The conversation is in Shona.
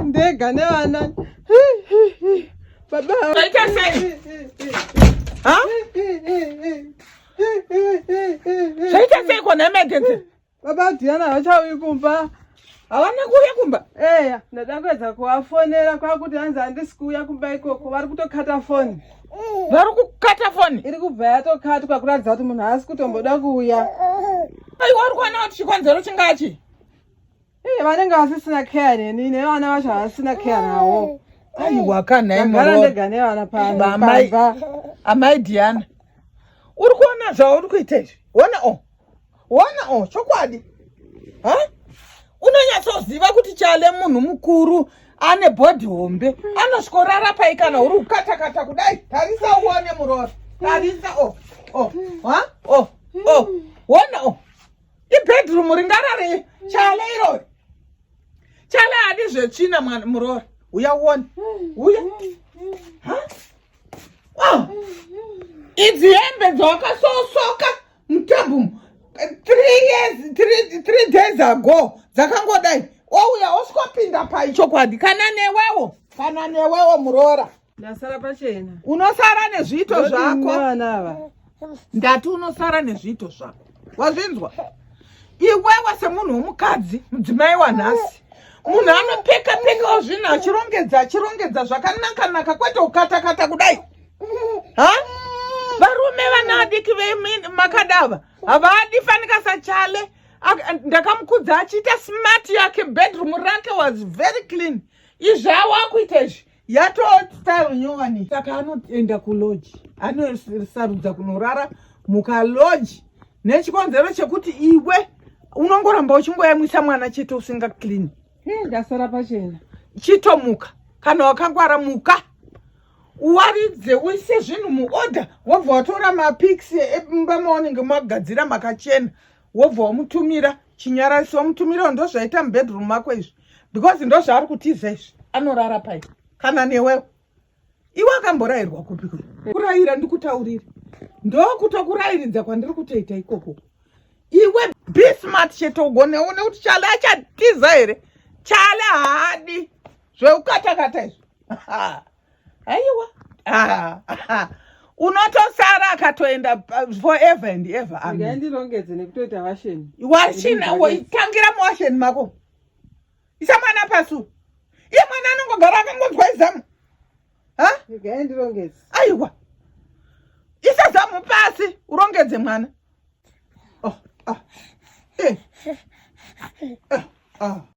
ndega nevana baba zvaita seiko nemegenzi Baba Diana havachauyi kumba. Havana kuuya kumba? Eya, ndada kuedza kuvafonera kwakuti hanzi handisi kuuya kumba ikoko. Vari kutokata foni. Vari kukata foni? Iri kubva yatokatwa kuratidza kuti munhu haasi kutomboda kuuya. Ai, wari kuona kuti chikonzero chingachi? Iye vanenge vasisina care neni, nevana vacho havasina care nawo. Ai, wakana imi. Ndagara ndega nevana pano. Amai Diana. Uri kuona zvauri kuita izvi? Wona o. Oh. Wona oh chokwadi. Ha? Unonyatsoziva kuti chale munhu mukuru ane body hombe anosvikorara pai kana uri kukatakata kudai tarisa uone muroora tarisa o o ha o o wona o ibedroom ringarare chale irori chale adi zvetsvina mwana muroora uya uone uya ha idzi hembe dzawakasosoka mtabum three years three, three days ago dzakangodai wauya oswapinda pai chokwadi kana newewo kana newewo muroora ndasara pachena unosara nezviito zvako ndati unosara nezviito zvako wazvinzwa iwewe semunhu womukadzi mudzimai wanhasi munhu anopeka pekawo zvinhu achirongedza achirongedza zvakanakanaka kwete ukatakata kudai ha varume vana vadiki vemakadava havadi fanika sachale ndakamukudza achiita smart yake bedroom rake was very clean izvi awakuita izvi yatostyle nyowani saka anoenda kuloji anosarudza kunorara mukaloji nechikonzero chekuti iwe unongoramba uchingoyamwisa mwana chete usinga clean ndasara pachena chitomuka kana wakangwara muka uwaridze uise zvinhu muorder wobva watora mapics emumba maunenge magadzira makachena wobva wamutumira chinyararisi wamutumirawo ndo zvaita mubedroom mako izvi because ndo zvaari kutiza izvi anorara pai kana newewo iwe akamborayirwa kupi kuri kurayira ndikutaurire ndokutokurayiridza kwandiri kutoita ikoko iwe be smart chete ugoneone kuti chale achatiza here chale haadi zveukatakata izvo aiwa unotosara akatoenda forever and ever andirongedze nekutoita washeni washina woitangira muwasheni mako isa mwana pasu iye mwana anongogara akangonzwa izamu ndironge aiwa isa zamu pasi urongedze mwana oh, oh. Eh. Oh, oh.